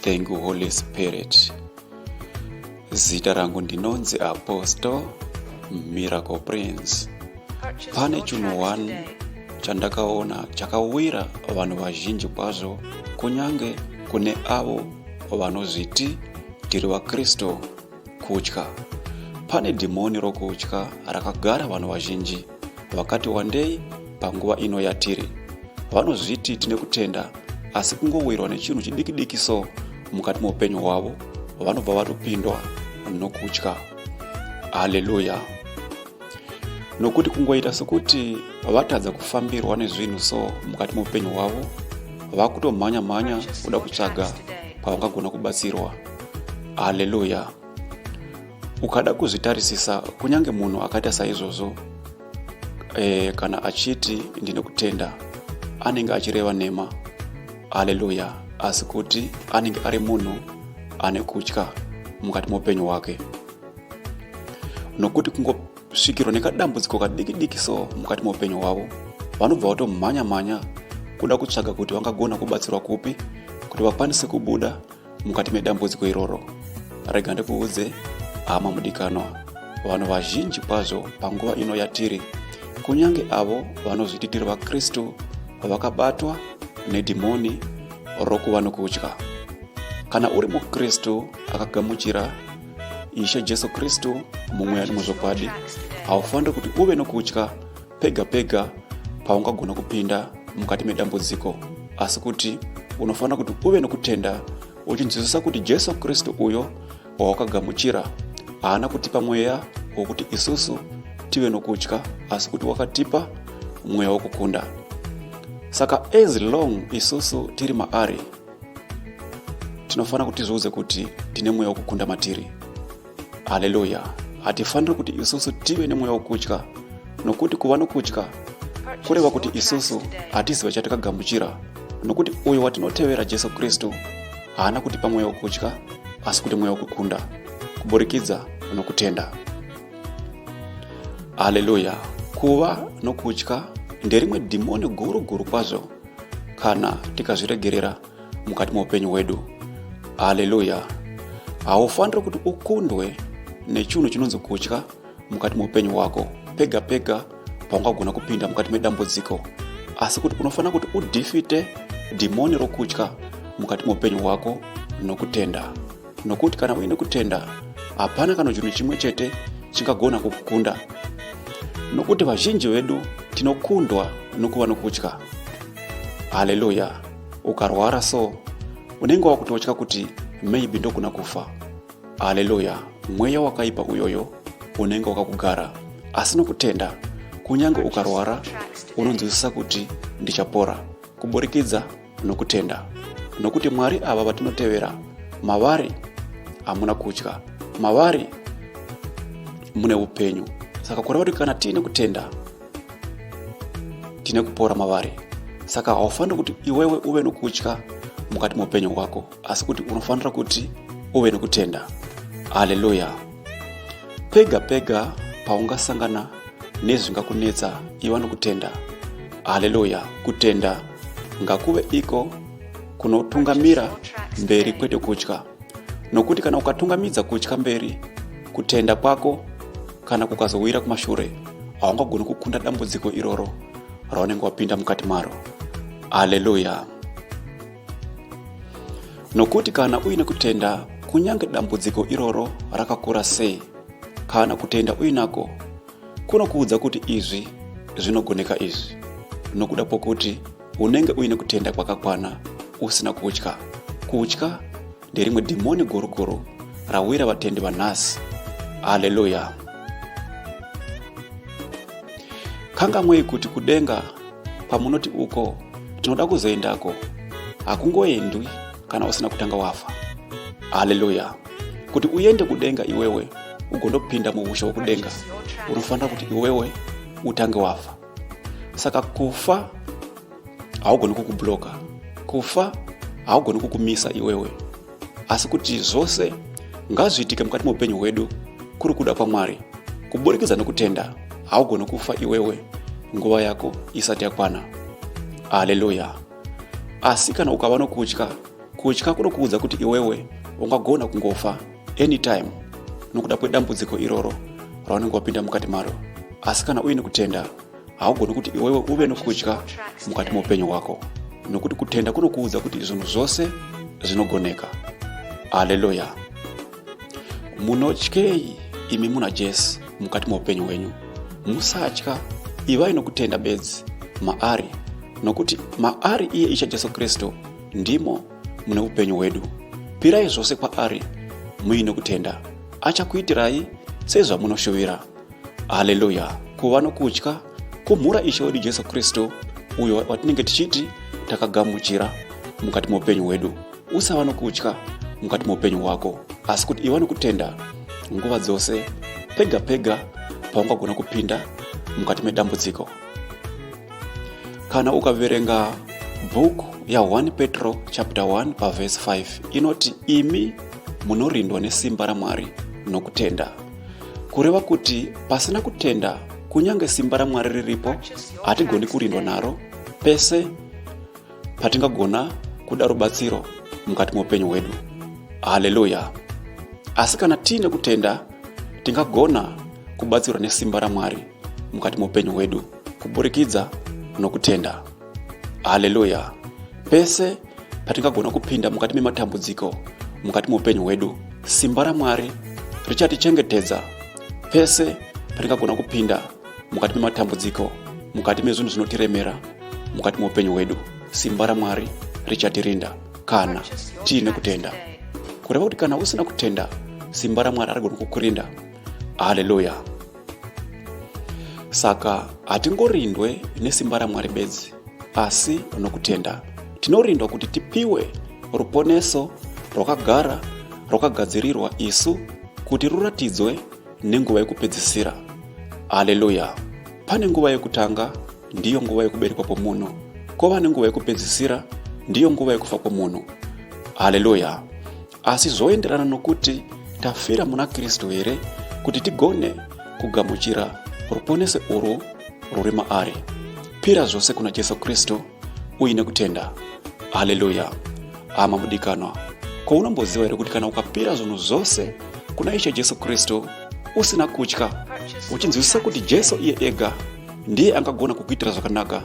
Thank you Holy Spirit. Zita rangu ndinonzi Apostle Miracle Prince. Pane chunhu one chandakaona chakawira vanhu vazhinji kwazvo kunyange kune avo vanozviti tiri vakristu kutya pane dhimoni rokutya rakagara vanhu vazhinji vakati wandei panguva ino yatiri vanozviti tine kutenda asi kungowirwa nechinhu chidikidiki so mukati meupenyu hwavo vanobva vatopindwa nokutya haleluya nokuti kungoita sokuti vatadza kufambirwa nezvinhu so mukati meupenyu hwavo vakutomhanya mhanya kuda kutsvaga kwavangagona kubatsirwa haleluya ukada kuzvitarisisa kunyange munhu akaita saizvozvo e, kana achiti ndine kutenda anenge achireva nhema haleluya asi kuti anenge ari munhu ane kutya mukati moupenyu hwake nokuti kungosvikirwa nekadambudziko kadiki diki so mukati moupenyu hwavo vanobva vatomhanya mhanya kuda kutsvaga kuti vangagona kubatsirwa kupi kuti vakwanise kubuda mukati medambudziko iroro rega ndikuudze hama mudikanwa vanhu vazhinji kwazvo panguva ino yatiri kunyange avo vanozviti tiri vakristu vakabatwa nedhimoni rokuva nokudya kana uri mukristu akagamuchira ishe jesu kristu mumweya nemuzvokwadi haufaniri kuti uve nokudya pega pega paungagona kupinda mukati medambudziko asi kuti unofanira kuti uve nokutenda uchinzwisisa kuti jesu kristu uyo wawakagamuchira haana kutipa mweya wokuti isusu tive nokutya asi kuti wakatipa mweya wokukunda saka as long isusu tiri maari tinofanira kuti tizviudze kuti tine mweya wokukunda matiri haleluya hatifaniri kuti isusu tive nemweya wokutya nokuti kuva nokutya kureva kuti isusu hatiziva chatakagamuchira nokuti uyo watinotevera jesu kristu haana kuti pamweya wokutya asi kuti mweya wokukunda kuburikidza nokutenda haleluya kuva nokutya nderimwe dhimoni guru guru kwazvo kana tikazviregerera mukati meupenyu hwedu haleluya haufaniri kuti ukundwe nechinhu chinonzi kutya mukati meupenyu hwako pega pega paungagona kupinda mukati medambudziko asi kuti unofanira kuti udhifite dhimoni rokutya mukati meupenyu hwako nokutenda nokuti kana uine kutenda hapana kana chinhu chimwe chete chingagona kukukunda nokuti vazhinji vedu tinokundwa nokuva nokutya haleluya ukarwara so unenge wakutotya kuti maybe ndogona kufa haleluya mweya wakaipa uyoyo unenge wakakugara asi nokutenda kunyange ukarwara unonzwisisa kuti ndichapora kuburikidza nokutenda nokuti mwari ava vatinotevera mavari hamuna kutya mavari mune upenyu saka kureva kuti kana tiine kutenda tine kupora mavari saka haufaniri kuti iwewe uve nokutya mukati meupenyu hwako asi kuti unofanira kuti uve nokutenda haleluya pega pega paungasangana nezvingakunetsa iva nokutenda haleluya kutenda ngakuve iko kunotungamira mberi kwete kutya nokuti kana ukatungamidza kutya mberi kutenda kwako kana kukazowira kumashure haungagoni kukunda dambudziko iroro raunenge wapinda mukati maro aleluya nokuti kana uine kutenda kunyange dambudziko iroro rakakura sei kana kutenda uinako kunokuudza kuti izvi zvinogoneka izvi nokuda pokuti unenge uine kutenda kwakakwana usina kutya kutya nderimwe dhimoni gurukuru rawira vatendi vanhasi haleluya kangamwei kuti kudenga kwamunoti uko tinoda kuzoendako hakungoendwi kana usina kutanga wafa haleluya kuti uende kudenga iwewe ugondopinda muushe wokudenga unofanira kuti iwewe utange wafa saka kufa haugoni kukubloka kufa haugoni kukumisa iwewe asi kuti zvose ngazviitike mukati meupenyu hwedu kuri kuda kwamwari kuburikidza nokutenda haugoni kufa iwewe nguva yako isati yakwana haleluya asi kana ukava nokutya kutya kunokuudza kuti iwewe ungagona kungofa anytime nokuda kwedambudziko iroro raunenge wapinda mukati maro asi kana uine kutenda haugoni kuti iwewe uve nokudya mukati meupenyu hwako nokuti kutenda kunokuudza kuti zvinhu zvose zvinogoneka haleluya munotyei imi muna jesu mukati meupenyu hwenyu musatya ivai nokutenda bedzi maari nokuti maari iye isha jesu kristu ndimo mune upenyu hwedu pirai zvose kwaari muine kutenda achakuitirai sezvamunoshuvira haleluya kuva nokutya kumhura ishe wedu jesu kristu uyo watinenge tichiti takagamuchira mukati meupenyu hwedu usava nokutya mukati meupenyu hwako asi kuti iva nokutenda nguva dzose pega pega paungagona kupinda mukati medambudziko kana ukaverenga book ya 1 petro chapter 1 pavhesi 5 inoti imi munorindwa nesimba ramwari nokutenda kureva kuti pasina kutenda kunyange simba ramwari riripo hatigoni kurindwa naro pese patingagona kuda rubatsiro mukati meupenyu hwedu haleluya asi kana tiine kutenda tingagona kubatsirwa nesimba ramwari mukati meupenyu hwedu kuburikidza nokutenda haleluya pese patingagona kupinda mukati mematambudziko mukati meupenyu hwedu simba ramwari richatichengetedza pese patingagona kupinda mukati mematambudziko mukati mezvinhu zvinotiremera mukati meupenyu hwedu simba ramwari richatirinda kana tiine kutenda kureva kuti kana usina kutenda simba ramwari arigoni kukurinda haleluya saka hatingorindwe nesimba ramwari bedzi asi nokutenda tinorindwa kuti tipiwe ruponeso rwakagara rwakagadzirirwa isu kuti ruratidzwe nenguva yekupedzisira haleluya pane nguva yekutanga ndiyo nguva yekuberekwa kwomunhu kwova nenguva yekupedzisira ndiyo nguva yekufa kwomunhu haleluya asi zvoenderana nokuti tafira muna kristu here kuti tigone kugamuchira ruponese urwu rwuri maari pira zvose kuna jesu kristu uine kutenda haleluya hama mudikanwa ko unomboziva here kuti kana ukapira zvinhu zvose kuna ishe jesu kristu usina kutya uchinzwisisa kuti jesu iye ega ndiye angagona kukuitira zvakanaka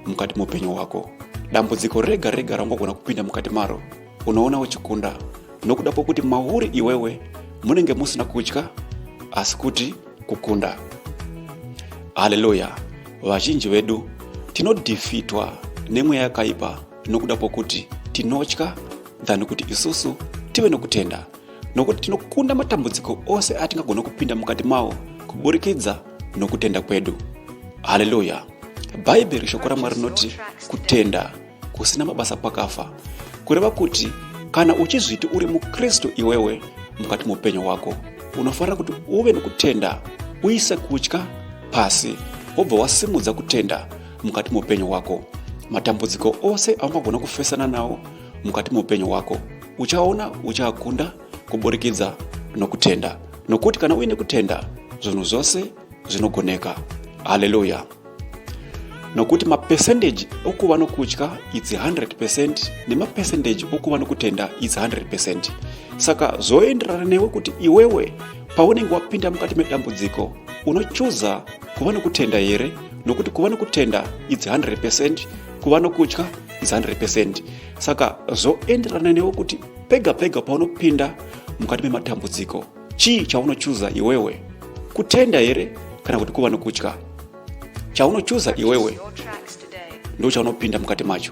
mukati muupenyu hwako dambudziko rega rega raungagona kupinda mukati maro unoona uchikunda nokuda kwokuti mauri iwewe munenge musina kutya asi kuti kukunda haleluya vazhinji vedu tinodhifitwa nemweya yakaipa nokuda kwokuti tinotya than kuti isusu tive nokutenda nokuti tinokunda matambudziko ose atingagona kupinda mukati mawo kuburikidza nokutenda kwedu haleluya bhaibheri shoko ramwari rinoti kutenda kusina mabasa kwakafa kureva kuti kana uchizviti uri mukristu iwewe mukati muupenyu hwako unofanira kuti uve nokutenda uise kutya pasi wobva wasimudza kutenda mukati muupenyu hwako matambudziko ose aungagona kufesana nawo mukati meupenyu hwako uchaona uchakunda kuburikidza nokutenda nokuti kana uine kutenda zvinhu zvose zvinogoneka haleluya nokuti mapesendeji okuva nokutya its 100 pecent nemapesendeji okuva nokutenda its 100 pecent saka zvoenderana newe kuti iwewe paunenge wapinda mukati medambudziko unochuza kuva nokutenda here nokuti kuva nokutenda its 100 pecent kuva nokutya is 100 percent saka zvoenderana newe kuti pega pega paunopinda mukati mematambudziko chii chaunochuza iwewe kutenda here kana kuti kuva nokutya chaunochuza iwewe ndo chaunopinda mukati macho